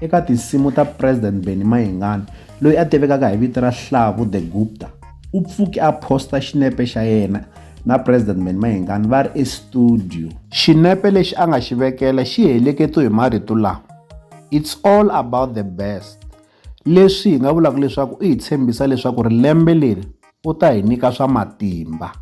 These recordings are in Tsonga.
Eka tinsimu ta President Benny Mayengani, loyi a tivekaka hi vito ra Hlavu the Gupta, u pfuke a posta xinepe xa yena na President Benny Mayengani va ri estudio. Xinepe lexi a nga xi vekela xi heleketiwe hi marito lawa, It's all about the best, leswi hi nga vulaka leswaku u hi tshembisa leswaku ri lembe leri U ta hi nyika swa matimba.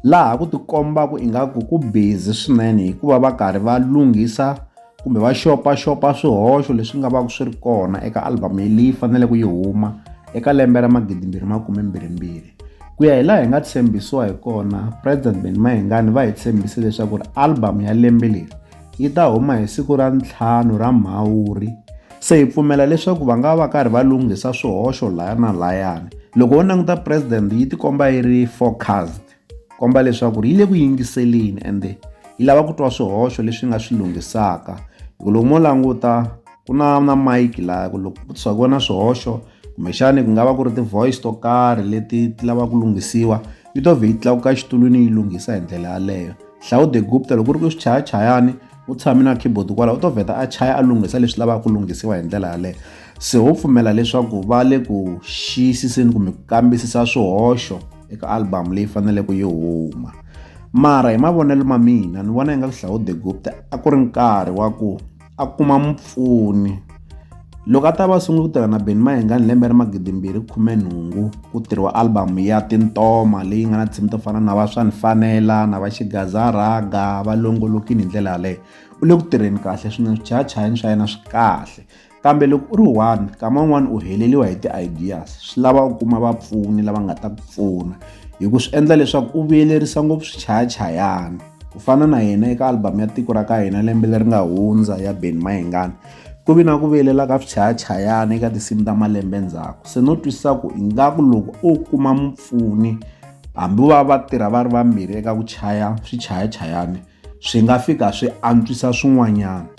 Laha ku tikombaka ingaku ku busy swinene hi ku va va karhi va lunghisa kumbe va xopaxopa swihoxo leswi nga va ku swi ri kona eka album leyi faneleke yi huma eka lembe ra magidimbirhi makumembirhimbirhi ku ya hi laha hi nga tshembisiwa hi kona president Benny Mayengani va hi tshembise leswaku ri album ya lembe leri yi ta huma hi siku ra ntlhanu ra Mhawuri. Se hi pfumela leswaku va nga va karhi va lunghisa swihoxo laya na layani. Loko wo languta president yi tikomba yi ri focused, komba leswaku yi le ku yingiseleni ende yi lava ku twa swihoxo leswi nga swi lunghisaka. Hi ku loko mo languta ku na na mic laya ku loko ku swa ku va na swihoxo kumbexani ku nga va ku ri ti-voice to karhi leti ti lava ku lunghisiwa yi to vhe yi tlakuka exitulwini yi lunghisa hi ndlela yaleyo hlawude gupta loko ri ku xichayachayani u tshame na keyboard kwalaho u to vheta a chaya a lunghisa leswi lavaka ku lunghisiwa hi ndlela yaleyo se ho pfumela leswaku va le ku xiyisiseni kumbe ku kambisisa swihoxo eka album leyi faneleke yi huma mara hi mavonelo ma mina ni vona yi nga ku hlawude gupta a ku ri nkarhi wa ku a kuma mupfuni. Loko a ta va a sungule ku tirha na Benny Mayengani hi lembe ra magidi mbirhi khume nhungu ku tirhiwa album ya Tintoma leyi nga na tinsimu to fana na va swa ni fanela na va xigaza rhaga va longolokile hi ndlela yaleyo u le ku tirheni kahle swinene swichayachayani swa yena swi kahle kambe loko u ri one nkama wun'wani u heleliwa hi ti-ideas swi lava u kuma vapfuni lava nga ta ku pfuna hi ku swi endla leswaku u vuyelerisa ngopfu swichayachayani. ku fana na yena eka album ya tiko ra ka hina lembe leri nga hundza ya ben mahengani ku vi na ku viyelela ka swichayachayana eka tinsimu ta malembe ndzhaku se no twisisa ku ingaku loko o kuma mupfuni hambi va va tirha va ri vambirhi eka ku chaya swichayachayani swi nga fika swi antswisa swin'wanyana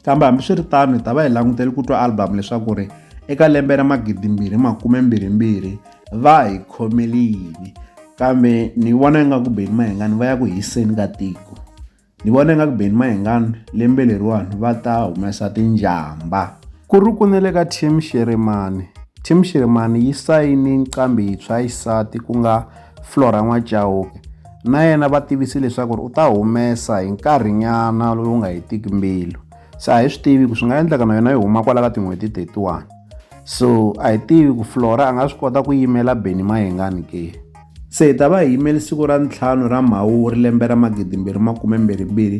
Kambe hambiswiritano hi ta va hi langutele ku twa album leswaku ri eka lembe ra magidi mbirhi makume mbirhi mbirhi va hi khomele yini kambe ni vona ingaku beni mahengani va ya ku hiseni ka tiko ni vona ingaku beni mahengani lembe leriwani va ta humesa tinjhamba ku ri ku ne le ka team xiremani team xiremani yi sayine nqambi yintshwa yisati ku nga Flora N'wachauke na yena va tivise leswaku ri u ta humesa hi nkarhinyana lowu nga hetiki mbilu se a hi swi tivi ku swi nga endleka na yona yi huma kwala ka tin'hweti 31 so a hi tivi ku flora a nga swi kota ku yimela beni mayengani ke se hi ta va hi yimeli siku ra ntlhanu ra mhawuri lembe ra magidimbirhi makume mbirhi mbirhi